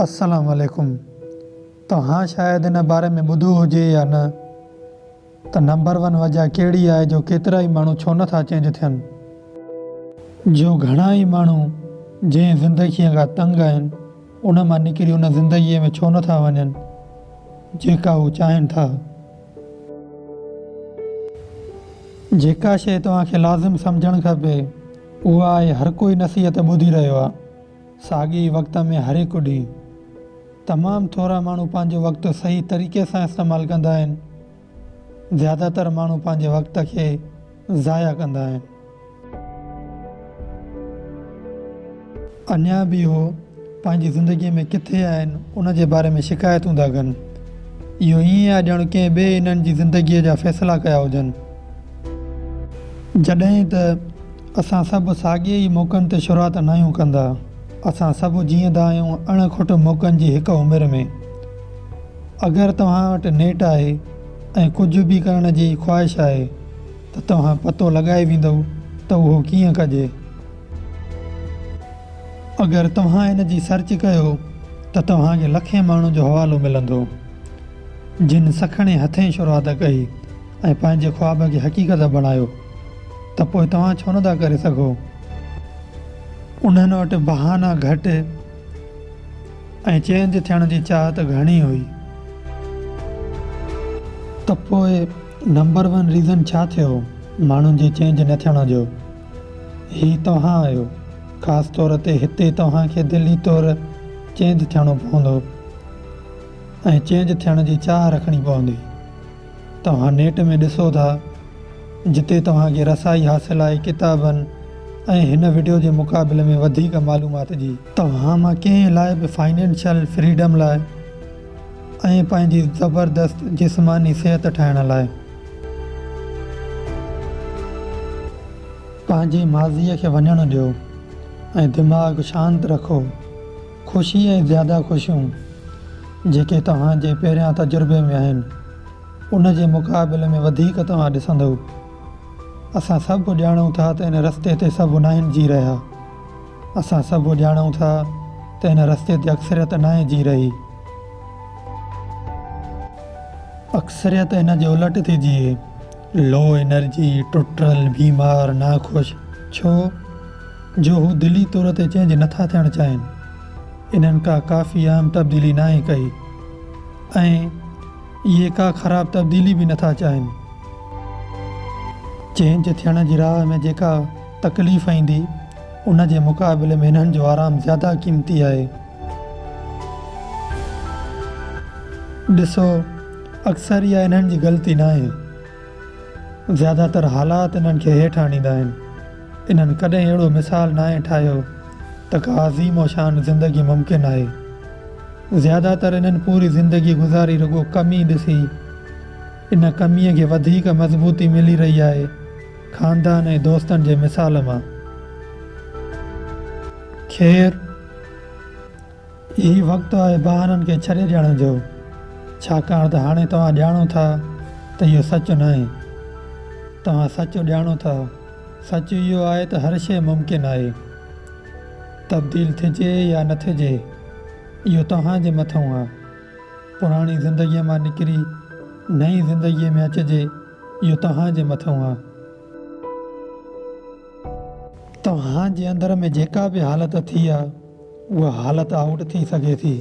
السلام عليڪم توهان شايد ان باري ۾ ٻڌو هجي يا نه ته نمبر ون وجه ڪهڙي آهي جو ڪيترا ئي ماڻهو ڇو نه ٿا چينج ٿين. جو گهڻا ئي ماڻهو جنهن زندگيء کان تنگ آهن ان مان نڪري ان زندگيء ۾ ڇو نه ٿا وڃن جيڪا هو چاهين ٿا. جيڪا شيء توهان کي لازم سمجهڻ کپي اها آهي هرڪوئي نصيحت ٻڌي رهيو آهي. ساڳئي ئي وقت ۾ هرهڪ ڏينهن تمام ٿورا ماڻهو پنهنجو وقت صحيح طريقي سان استعمال ڪندا آهن. زياده تر ماڻهو پنهنجي وقت کي ضايع ڪندا آهن. اڃا به اهو پنهنجي زندگي ۾ ڪٿي آهن ان جي باري ۾ شڪايتون ٿا ڪن. اهو ائين آهي ڄڻ ڪنهن ٻئي انهن جي زندگيء جا فيصلا ڪيا هجن. جڏهن ته اسان سڀ ساڳئي ئي موقعن تي شروعات ناهيون ڪندا. اسان سڀ جيئندا آهيون اڻ کٽ موقعن جي هڪ عمر ۾. اگر توهان وٽ نيٽ آهي ۽ ڪجهه به ڪرڻ جي خواهش آهي ته توهان پتو لڳائي ويندؤ ته اهو ڪيئن ڪجي. اگر توهان ان جي سرچ ڪيو ته توهان کي لکين ماڻهن جو حوالو ملندو جن سکڻي هٿين شروعات ڪئي. ۽ پنهنجي خواب کي حقيقت بڻايو ته پوء توهان ڇو نه ٿا ڪري سگهو؟ انهن وٽ بهانا گهٽ ۽ چينج ٿيڻ جي چاهت گهڻي هئي. ته پوء نمبر ون ريزن ڇا ٿيو ماڻهن جي چينج نه ٿيڻ جو؟ هي توهان آهيو. خاص طور تي هتي توهان کي دلي طور چينج ٿيڻو پوندو ۽ چينج ٿيڻ جي چاهه رکڻي پوندي. توهان نيٽ ۾ ڏسو ٿا جتي توهان کي رسائي حاصل آهي ڪتابن ۽ هن وڊيو جي مقابلي ۾ وڌيڪ معلومات جي. توهان مان ڪنهن لاء به فائنينشل فريڊم لاء ۽ پنهنجي زبردست جسماني صحت ٺاهڻ لاء. پنهنجي ماضي کي وڃڻ ڏيو ۽ دماغ شانت رکو. خوشي ۽ زياده خوشيون جيڪي توهان جي پهريان تجربي ۾ آهن ان جي مقابلي ۾ وڌيڪ توهان ڏسندئو. اسان سڀ ڄاڻون ٿا ته ان رستي تي سڀ ناهن جي رهيا. اسان سڀ ڄاڻون ٿا ته ان رستي تي اڪثريت ناهي جي رهي. اڪثريت ان جي الٽ ٿي جيئي. Low Energy، ٽٽل، بيمار، ناخوش. ڇو؟ جو هو دلي طور تي چينج نه ٿا ٿيڻ چاهين. انهن ڪا ڪافي اهم تبديلي ناهي ڪئي ۽ اهي ڪا خراب تبديلي به نه ٿا چاهين. چينج ٿيڻ جي راهه ۾ جيڪا تڪليف ايندي، ان جي مقابلي ۾ انهن جو آرام زياده قيمتي آهي. ڏسو، اڪثر اها انهن جي غلطي ناهي. زياده تر حالات انهن کي هيٺ آڻيندا آهن. انهن ڪڏهن اهڙو مثال ناهي ٺاهيو ته ڪا عظيم و شان زندگي ممڪن آهي. زياده تر انهن پوري زندگي گذاري رڳو ڪمي ڏسي. ان ڪميء کي وڌيڪ مضبوطي ملي رهي آهي خاندان ۽ دوستن جي مثال مان. خير! هي وقت آهي بهانن کي ڇڏي ڏيڻ جو، ڇاڪاڻ ته هاڻي توهان ڄاڻو ٿا ته اهو سچ ناهي. توهان سچ ڄاڻو ٿا. سچ اهو آهي ته هر شيء ممڪن آهي. تبديل ٿجي يا نه ٿجي، اهو توهان جي مٿئون آهي. پراڻي زندگيء مان نڪري نئين زندگيء ۾ اچجي، اهو توهان جي مٿئون آهي. توهان جي اندر ۾ جيڪا به حالت ٿي آهي. اها حالت آئوٽ ٿي سگهي ٿي.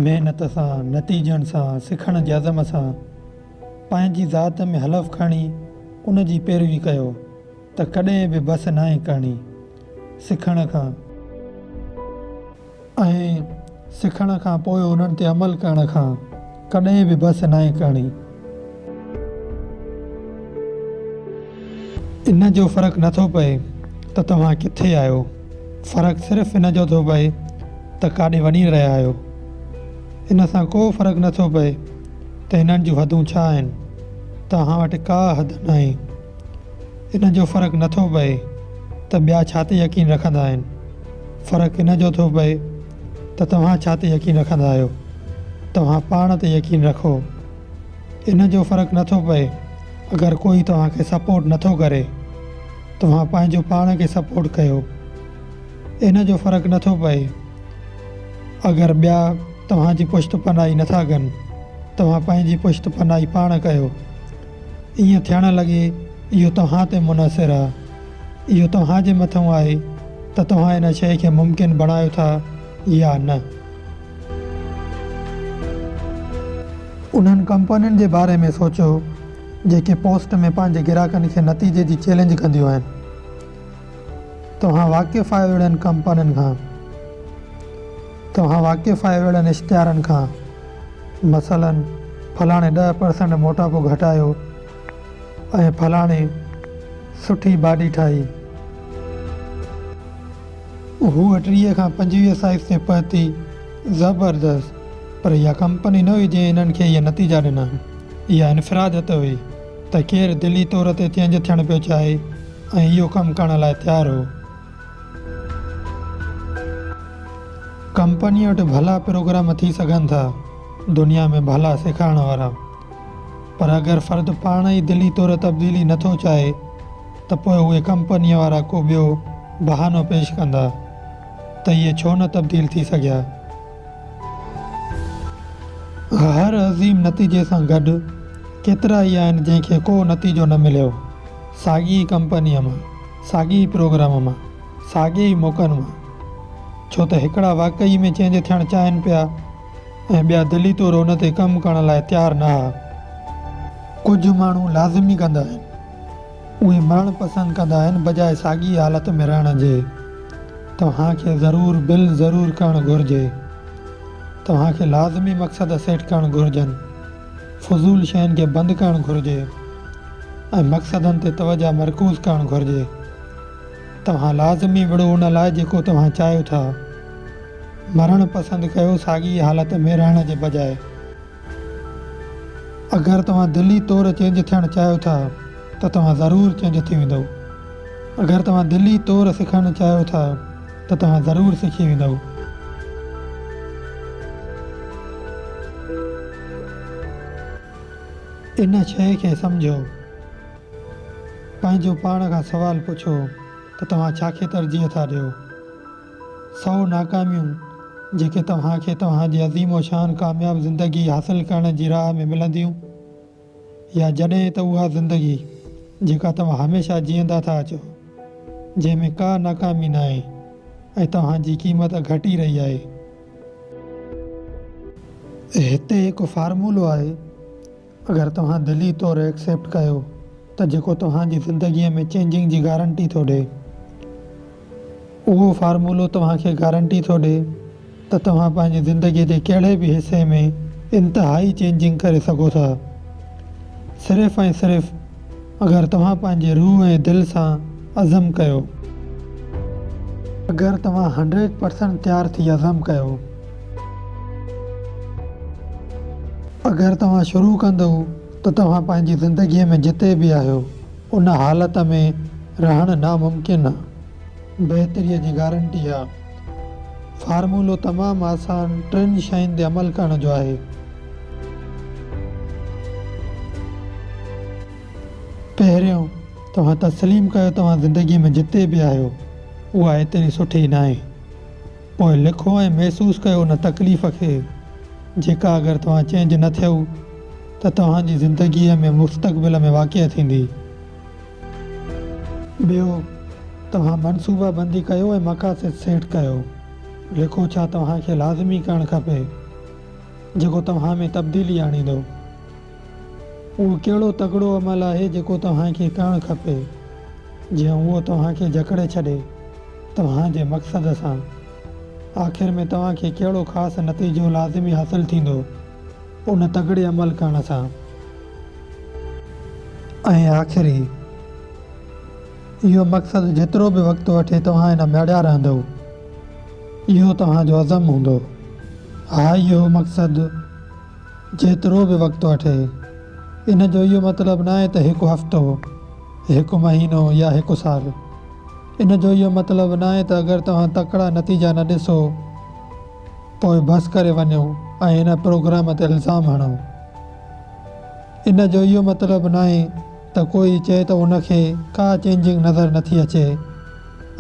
محنت سان، نتيجن سان، سکڻ جي عزم سان، پنهنجي ذات ۾ حلف کڻي ان جي پيروي ڪيو ته ڪڏهن به بس ناهي ڪرڻي. سکڻ کان. ۽ سکڻ کان پوء انهن تي عمل ڪرڻ کان ڪڏهن به بس ناهي ڪرڻي. ان جو فرق نه ٿو پئي ته توهان ڪٿي آهيو، فرق صرف ان جو ٿو پئي ته ڪاڏي وڃي رهيا آهيو. ان سان ڪو فرق نه ٿو پئي ته هنن جون حدون ڇا آهن، توهان وٽ ڪا حد ناهي. ان جو فرق نه ٿو پئي ته ٻيا ڇا تي يقين رکندا آهن، فرق ان جو ٿو پئي ته توهان ڇا تي يقين رکندا آهيو؟ توهان پاڻ تي يقين رکو. ان جو فرق نه ٿو پئي اگر ڪوئي توهان کي سپورٽ نه ٿو ڪري. توهان پنهنجو پاڻ کي سپورٽ ڪيو. ان جو فرق نه ٿو پئي اگر ٻيا توهان جي پشت پناهي نه ٿا ڪن. توهان پنهنجي پشت پناهي پاڻ ڪيو. ائين ٿيڻ لڳي اهو توهان تي منحصر آهي. اهو توهان جي مٿئون آهي ته توهان ان شيء کي ممڪن بڻايو ٿا يا نه. انهن ڪمپنين جي باري ۾ سوچيو جيڪي پوسٽ ۾ پنهنجي گراهڪن کي نتيجي جي چئلينج ڪنديون آهن. توهان واقف آهيو اهڙين ڪمپنين کان. توهان واقف آهيو اهڙن اشتهارن کان. مثلا فلاڻي ڏهه پرسنٽ موٽاپو گهٽايو. ۽ فلاڻي سٺي باڊي ٺاهي. هوء ٽيهه کان پنجويهه سائيز تي پهتي. زبردست! پر اها ڪمپني نه هئي جنهن هنن کي اهي نتيجا ڏنا. اها انفراديت هئي ته ڪير دلي طور تي چينج ٿيڻ پيو چاهي ۽ اهو ڪم ڪرڻ لاء تيار هو. ڪمپنيء وٽ ڀلا پروگرام ٿي سگهن ٿا، دنيا ۾ ڀلا سيکارڻ وارا. پر اگر فرد پاڻ ئي دلي طور تبديلي نه ٿو چاهي ته پوء اهي ڪمپنيء وارا ڪو ٻيو بهانو پيش ڪندا ته اهي ڇو نه تبديل ٿي سگهيا. هر عظيم نتيجي سان گڏ ڪيترا ئي آهن جنهن کي ڪو نتيجو نه مليو، ساڳي ئي ڪمپنيء مان، ساڳي ئي پروگرام مان، ساڳي ئي موقعن مان، ڇو ته هڪڙا واقعي ۾ چينج ٿيڻ چاهين پيا، ۽ ٻيا دلي طور ان تي ڪم ڪرڻ لاء تيار نه ها. ڪجهه ماڻهو لازمي ڪندا آهن. اهي مرڻ پسند ڪندا آهن بجاء ساڳي حالت ۾ رهڻ جي. توهان کي ضرور بل ضرور ڪرڻ گهرجي. توهان کي لازمي مقصد سيٽ ڪرڻ گهرجن. فضول شين کي بند ڪرڻ گهرجي ۽ مقصدن تي توجهه مرڪوز ڪرڻ گهرجي. توهان لازمي وڙهو ان لاء جيڪو توهان چاهيو ٿا. مرڻ پسند ڪيو ساڳي ئي حالت ۾ رهڻ جي بجاء. اگر توهان دلي طور چينج ٿيڻ چاهيو ٿا ته توهان ضرور چينج ٿي ويندؤ. اگر توهان دلي طور سکڻ چاهيو ٿا ته توهان ضرور سکي ويندؤ. ان شيء کي سمجهو. پنهنجو پاڻ کان سوال پڇو ته توهان ڇا کي ترجيح ٿا ڏيو؟ سؤ ناڪاميون جيڪي توهان کي توهان جي عظيم و شان ڪامياب زندگي حاصل ڪرڻ جي راهه ۾ ملنديون يا جڏهن ته اها زندگي جيڪا توهان هميشه جيئندا ٿا اچو جنهن ۾ ڪا ناڪامي ناهي ۽ توهان جي قيمت گهٽي رهي آهي. هتي هڪ فارمولو آهي. اگر توهان دلي طور ايڪسيپٽ ڪيو ته جيڪو توهان جي زندگي ۾ چينجنگ جي گارنٽي ٿو ڏي اهو فارمولو توهان کي گارنٽي ٿو ڏي ته توهان پنهنجي زندگي جي ڪهڙي به حصي ۾ انتهائي چينجنگ ڪري سگهو ٿا صرف ۽ صرف اگر توهان پنهنجي روح ۽ دل سان عزم ڪيو. اگر توهان هنڊريڊ پرسنٽ تيار ٿي عزم ڪيو. اگر توهان شروع ڪندئو ته توهان پنهنجي زندگيء ۾ جتي به آهيو، ان حالت ۾ رهڻ ناممڪن آ. بهتريء جي گارنٽي آ. فارمولو تمام آسان ٽن شين تي عمل ڪرڻ جو آهي. پهريون، توهان تسليم ڪيو توهان زندگيء ۾ جتي به آهيو، اها ايتري سٺي ناهي. پوء لکو ۽ محسوس ڪيو ان تڪليف کي، جيڪا اگر توهان چينج نه ٿيو ته توهان جي زندگيء ۾ مستقبل ۾ واقع ٿيندي. ٻيو، توهان منصوبه بندي ڪيو ۽ مقاصد سيٽ ڪيو. لکو ڇا توهان کي لازمي ڪرڻ کپي، جيڪو توهان ۾ تبديلي آڻيندو. اهو ڪهڙو تڪڙو عمل آهي جيڪو توهان کي ڪرڻ کپي، جيئن اهو توهان کي جڪڙي ڇڏي توهان جي مقصد سان؟ آخر ۾ توهان کي ڪهڙو خاص نتيجو لازمي حاصل ٿيندو ان تڪڙي عمل ڪرڻ سان؟ ۽ آخري، اهو مقصد جيترو به وقت وٺي توهان ان ۾ اڙيا رهندؤ، اهو توهان جو عزم هوندو. ها اهو مقصد. جيترو به وقت وٺي. ان جو اهو مطلب ناهي ته هڪ هفتو، هڪ مهينو يا هڪ سال. ان جو اهو مطلب ناهي ته اگر توهان تڪڙا نتيجا نه ڏسو پوء بس ڪري وڃو ۽ ان پروگرام تي الزام هڻو. ان جو اهو مطلب ناهي ته ڪوئي چئي ته ان کي ڪا چينجنگ نظر نٿي اچي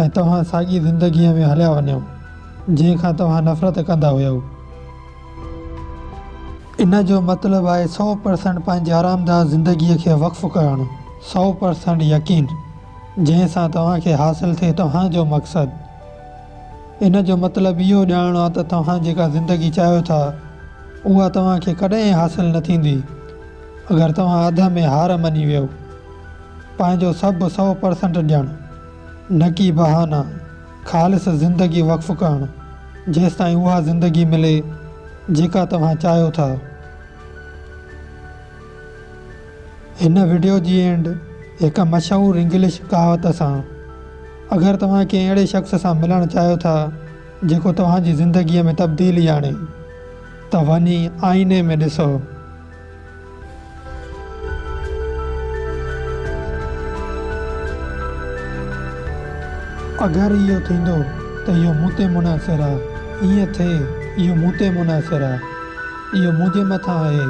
۽ توهان ساڳي زندگيء ۾ هليا وڃو، جنهن کان توهان نفرت ڪندا هيؤ. ان جو مطلب آهي سؤ پرسنٽ پنهنجي آرامده زندگيء کي وقف ڪرڻ، سؤ پرسنٽ يقين، جنهن سان توهان کي حاصل ٿئي توهان جو مقصد. ان جو مطلب اهو ڄاڻڻ آهي ته توهان جيڪا زندگي چاهيو ٿا، اها توهان کي ڪڏهن حاصل نه ٿيندي، اگر توهان اڌ ۾ هار مڃي ويهو. پنهنجو سڀ سؤ پرسنٽ ڏيڻ، نه ڪي بهانا. خالص زندگي وقف ڪرڻ جيستائين اها زندگي ملي جيڪا توهان چاهيو ٿا. هن وڊيو جي اينڊ هڪ مشهور انگلش ڪهاوت سان. اگر توهان ڪنهن اهڙي شخص سان ملڻ چاهيو ٿا جيڪو توهان جي زندگي ۾ تبديلي آڻي ته وڃي آئيني ۾ ڏسو. اگر اهو ٿيندو ته اهو مون تي منحصر آ، ائين ٿئي اهو مون تي منحصر آ، اهو منهنجي مٿان آهي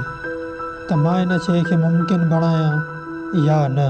ته مان ان شيء کي ممڪن بڻايان يا نه.